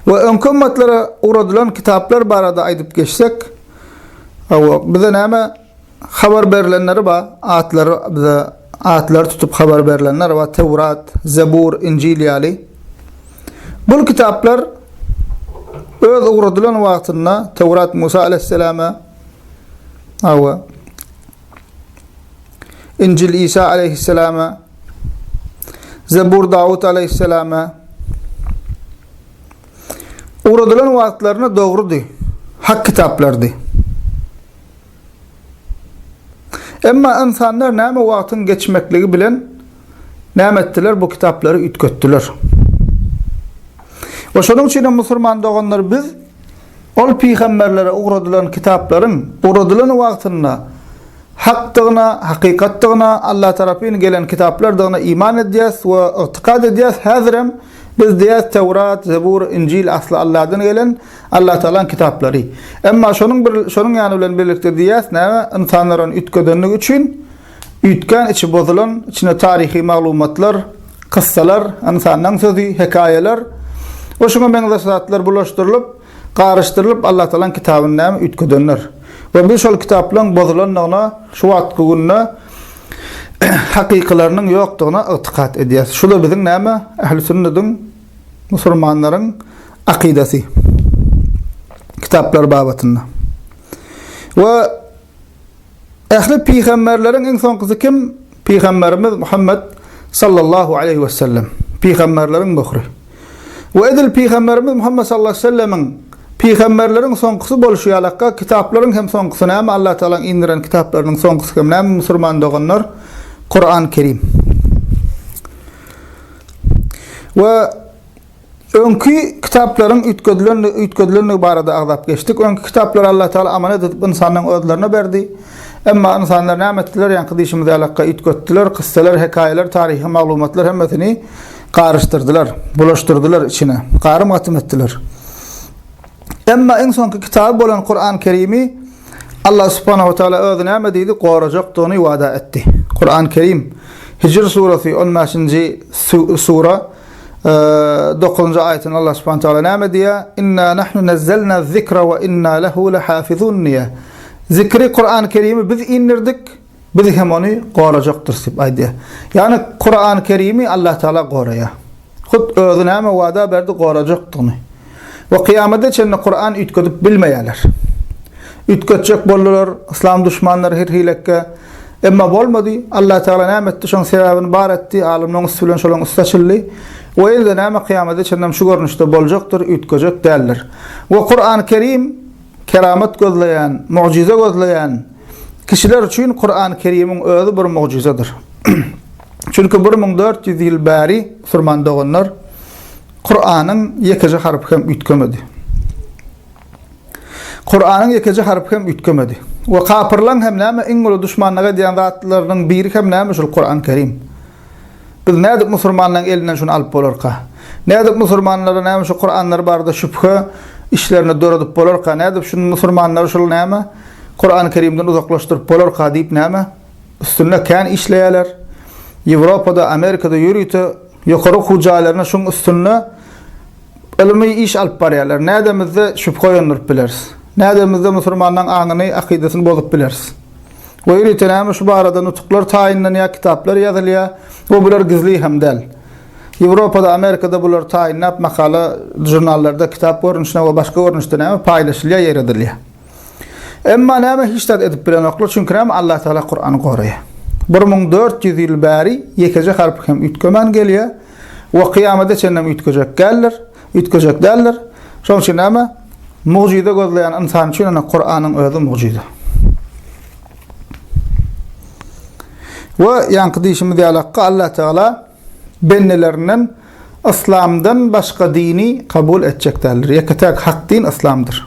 We öňki ümmetlere ugradylan kitaplar barada aýdyp geçsek, hawa, bize näme habar berilenleri bar, atlary bize atlar tutup habar berilenler bar, Tewrat, Zebur, Injil ýaly. Bul kitaplar öz ugradylan wagtynda Tewrat Musa aleyhisselama, hawa, Injil Isa aleýhissalama, Zebur Dawut aleýhissalama ugradylan wagtlaryna dogrudy, hak kitaplardy. Emma insanlar näme wagtyň geçmekligi bilen näme etdiler? Bu kitaplary üýtgetdiler. We şonuň üçin hem musulman doganlar biz ol pygamberlere ugradylan kitaplaryň ugradylan wagtynda hakdygyna, hakykatdygyna, Allah tarapyn gelen kitaplardygyna iman edýäs we ygtykad edýäs. Häzir hem biz diýýäs, Tewrat, Zebur, Injil asly Allahdan gelen, Allah Tagalaň kitaplary. Emma şonuň bir şonuň ýany bilen birlikde diýýäs, näme? Ynsanlar ony üýtgedenligi üçin, Üýtgän içi bozulan, içine taryhy maglumatlar, kyssalar, ynsanlaň sözi, hekaýalar we şuňa meňzeş zatlar bulaşdyrylyp, garyşdyrylyp Allatagalaň kitabyny näme üýtgedenler. We biz şol kitaplaň bozulandygyna şu wagtky günde hakykylarynyň ýokdugyna ygtykat edýäs. Şuda biziň näme ähli sünnüdiň musulmanlaryň akydasy. Kitaplar babatynda. We Ähli pygamberleriň iň soňkusy kim? Pygamberimiz Muhammet sallallahu aleýhi wesellem. Pygamberleriň möhri. We edil pygamberimiz Muhammet sallallahu aleýhi wesellemiň pygamberleriň soňkusy bolşy ýalakka kitaplaryň hem soňkusy näme Allah Tagalaň indiren kitaplarynyň soňkusy hem näme musurman doganlar Kuran Kerim. We Öňki kitaplaryň üýtgedilenligi üýtgedilenligi barada agzap geçdik. Öňki kitaplary Allatagala amanet edip ynsanlaryň özlerine berdi. Emma ynsanlar näme etdiler? Ýaňky diýşimiz ýalakka üýtgetdiler. Kyssalar, hekaýalar, taryhy maglumatlar hemmesini garyşdyrdylar, bulaşdyrdylar içine. Garym-gatym etdiler. Emma iň soňky kitaby bolan Kuran-Kerimi Allah subhanahu we taala özi näme diýdi? Gorajakdygyny wada etdi. Kuran-Kerim, Hijr surasy, on bäşinji sura. Dokuzynjy aýatynda Allah subhanahu taala näme diýýär? Inna nahnu nazzalna zikra we inna lehu lehafizun diýýär. Zikri Kur'an-ı Kerim'i biz indirdik, biz hem ony gorajakdyrys diýip aýdýar. Ýagny Kur'an-ı Kerim'i Allah taala goraýar. Hut özi näme wada berdi gorajakdygyny. we kyýamada çenli Kuran üýtgedip bilmeýärler. Üýtgetjek boldular, yslam duşmanlary her hilekge, emma bolmady, Allatagala näme etdi, şoň sebäbini bar etdi, alymlaň üsti bilen şolaň üsti açyldy we indi näme kyýamada çenlem şu görnüşde boljakdyr, üýtgejek däldir. We Kuran Kerim keramat gözleýän, mugjyza gözleýän kişiler üçin Kuran Kerimiň özi bir mugjyzadyr. Çünki bir müň dört ýüz ýyl bäri, musurman doganlar, Kuranyň ýekeje harpy hem üýtgemedi. Kuranyň ýekeje harpy hem üýtgemedi. We kapyrlaň hem näme iň uly duşmanlyk edýän zatlarynyň biri hem näme şul Kurany Kerim. Biz nädip musurmanlaň elinden şuny alyp bolarka? Nädip musurmanlara näme şu Kuranlar barada şübhe işlerini döredip bolarka? Nädip şuny musurmanlary şul näme Kurany Kerimden uzaklaşdyryp bolarka diýip näme? Üstünde kän işleýärler. Ýewropada, Amerikada ýörite ýokary okuw jaýlaryna şuň üstünde ylmy iş alyp barýarlar. Nädemizde şübhe oýandyryp bileris? Nädemizde musurmanlaň aňyny, akydasyny bozup bileris? We ýörite näme şu barada nutuklar taýynlanýar, kitaplar ýazylýar we bular gizli hem däl. Ýewropada, Amerikada bular taýynlap makala, žurnallarda kitap görnüşine we başga görnüşde näme paýlaşylýar, ýaýradylýar. Emma näme hiç zat edip bilenoklar, çünki näme Allah Taala Kurany goraýar. Bir müň dört ýüz ýyl bäri ýekeje harpy hem üýtgemän gelýär we kyýamada çenlem üýtgejek gäldir, üýtgejek däldir. Şonuň üçin näme? Mugjyza gözleýän ynsan üçin ene Kuranyň özi mugjyza. We ýaňky diýişimiz ýalakka Allah Taala bendelerinden Yslamdan başga dini kabul etjek däldir. Ýeke täk hak din Yslamdyr.